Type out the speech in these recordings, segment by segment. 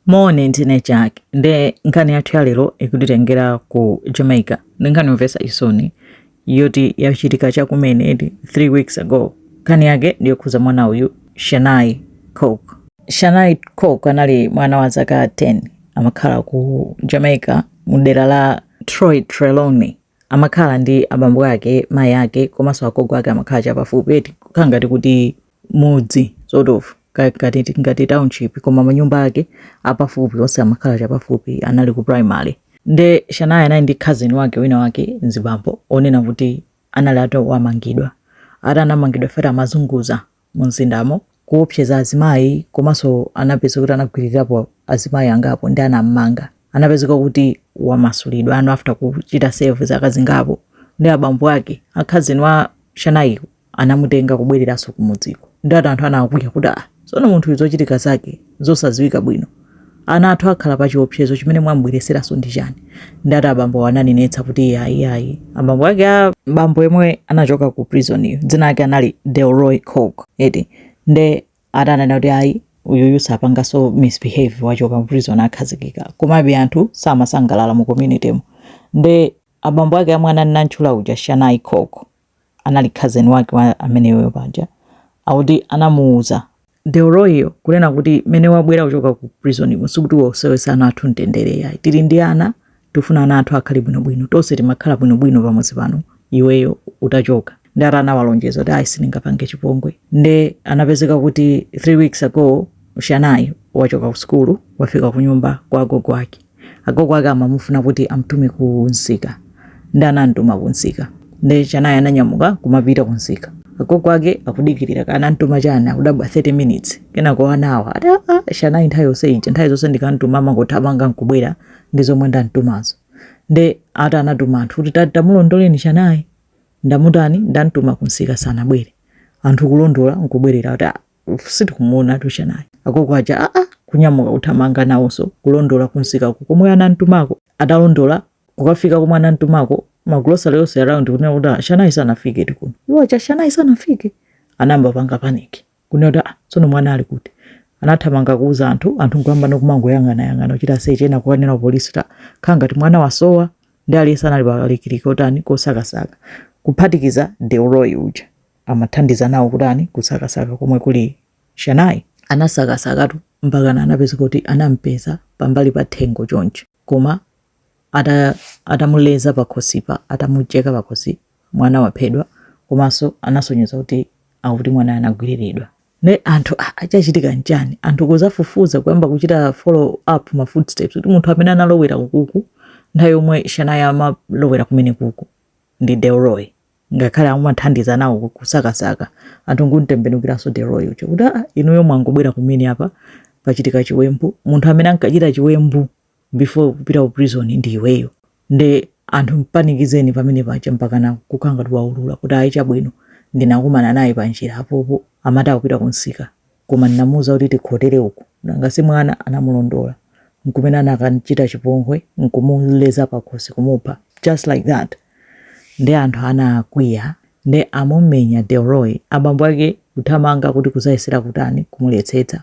Moni, ndine Jack nde nkhani yathu ya lero ikutitengera ku Jamaica. Ndi nkhani yomvetsa chisoni yoti yachitika chakumene edi 3 weeks ago. Nkhani yake ndi yokhuza mwana uyu Shanai Coke. Shanai Coke anali mwana wa zaka 10 amakhala ku Jamaica mu dera la Troy Trelawney amakhala ndi abambo ake mayi ake komanso agogo ake amakhala chapafupi eti kukhala ngati kuti mudzi sort of ka- ngati ngati township koma manyumba ake apafupi onse amakhala chapafupi anali ku primary nde Shanai anali ndi cousin wake wina wake mzibambo onena kuti anali atawamangidwa ati anamangidwa after amazunguza mumzindamo kuopseza azimayi komanso anapeza kuti anagwiririrapo azimayi angapo nde anammanga anapezeka kuti wamasulidwa ano after kuchita serve zaka zingapo nde abambo ake a cousin wa Shanai anamutenga kubwereranso kumudziko nde ati anthu anakwiya kuti ah sono munthu uyu zochitika zake N'zosadziwika bwino ana athu akhala pa chiopsezo chimene mwamubweretseranso ndi chani nde ati abambowo ananenetsa kuti iai iai abambo ake a bambo yemwe anachoka ku prison yu dzina lake anali Delroy Coke eti nde ati ananena kuti ayi uyuyu sapanganso misbehave wachoka mu prison akhazikika komabe anthu samasangalala mu community mu nde abambo ake a mwana ndantchula uja Shanai Coke anali cousin wake wa ameneyoyo paja akuti anamuuza Delroyyo kunena kuti mene wabwera kuchoka ku prisoniko sikuti uwasowetse ana athu mtendere yayi tili ndi ana tifuna ana athu akhale bwinobwino tonse timakhala bwinobwino pamodzi pano iweyo utachoka nde ati anawalonjeza kuti ayi sindingapange chipongwe nde anapezeka kuti 3 weeks ago Shanai wachoka ku sukulu wafika kunyumba kwa agogo ake Agogo ake amamufuna kuti amtume ku nsika. Nde anamtuma ku nsika. Nde Shanai ananyamuka kumapita ku nsika. Agogo ake akudikilira kaya anamtuma chani akudabwa 30 minutes. Kenako one hour ati aah Shanai nthawi yonse ija nthawi zonse ndikamtuma amangothamanga nkubwera ndi zomwe ndamtumazo. Nde ati anatuma anthu kuti ta tamulondoleni Shanai ndamutani ndamtuma ku nsika sanabwere. Anthu kulondola nkubwerera kuti aah. Sitikumuonatu Shanai agogo aja aa kunyamuka kuthamanga nawonso kulondola kunsikako komwe anantumako atalondola kukafika komwe anantumako magulosale yonse around kunena kuti ah, Shanai sanafiketu kuno iwo aja Shanai sanafike anayamba panga panic kunena kuti ah, tsono mwana ali kuti anathamanga kuuza anthu anthu nkuyamba nokumangoyang'anayang'ana kuchita search ena kukanena polisi ta khala ngati mwana wasowa ndi aliyense anali palikiliki kutani kosakasaka kuphatikiza Delroy uja amathandiza nawo kutani kusakasaka komwe kuli Shanayi. Anasakasakatu mpakana anapezeka kuti anampeza pambali pa thengo chonchi koma ata atamuleza pakhosipa atamucheka pakhosi mwana waphedwa komanso anasonyeza kuti akuti mwana anagwiriridwa ne anthu ah chachitika nchani anthu kuzafufuza kuyamba kuchita follow up ma footsteps kuti munthu amene analowera ukuku nthawi yomwe Shanayi amalowera kumene kuku ndi Delroy ngakhale amathandiza nawo ku- kusakasaka anthu nkumtembenukiranso Delroy uja kuti aa inuyo mwangobwera kumene apa pachitika chiwembu munthu amene ankachita chiwembu before kupita ku prison ndi iweyo nde anthu mpanikizeni pamene paja mpakana kukhala ngati waulula kuti ayi chabwino ndinakumana naye panjira apopo amati akupita kumsika Koma ndinamuuza kuti tikhotere uku, nanga si mwana anamulondola, n'kumene anakam'chita chipongwe, n'kumuleza pakhosi kumupha, just like that. Nde anthu anakwiya, nde amumenya Delroy, abambo ake kuthamanga kuti kuzayesera kutani, kumuletsetsa.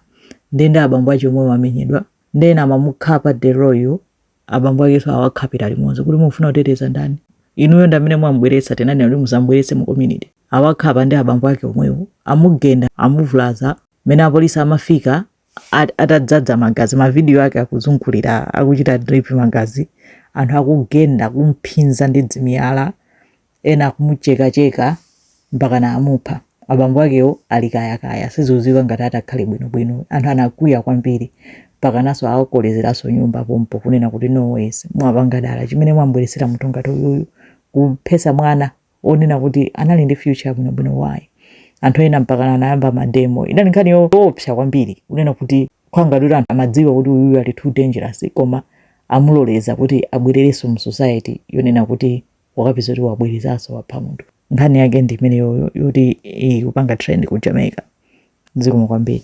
Nde ndi abambo ache omwewo amenyedwa, nde ena amamukhapa Delroy yo Abambo akeso awakhapira limodzi kuti mufuna kuteteza ndani? Inuyo ndamene mwamubweretsa tinanena kuti musamubweretse mu community. Awakhapa ndi abambo ake omwewo, amugenda, amuvulaza, mmene apolisi amafika atadzadza magazi ma video ake akuzungulira akuchita drip magazi, anthu akugenda, kumphinza ndi dzimiyala, ena akumuchekacheka mpakana amupha abambo akewo ali kayakaya siziziwika ngati atakhale bwinobwino anthu anakwiya kwambiri mpakanaso awakolezeranso nyumba pompo kunena kuti no ways mwapanga dala chimene mwambweresera munthu ngati uyuyu kuphesa mwana onena kuti anali ndi future bwinobwino why anthu ena mpakana anayamba mademo inali nkhani yoopsa kwambiri kunena kuti kupanga kuti anthu amadziwa kuti uyuyu ali too dangerous koma amuloleza kuti abwererenso mu society yonena kuti wakapeza kuti wabwerezanso wapha munthu nkhani yake ndi imeneyoyo yoti ikupanga trend ku Jamaica zikomo kwambiri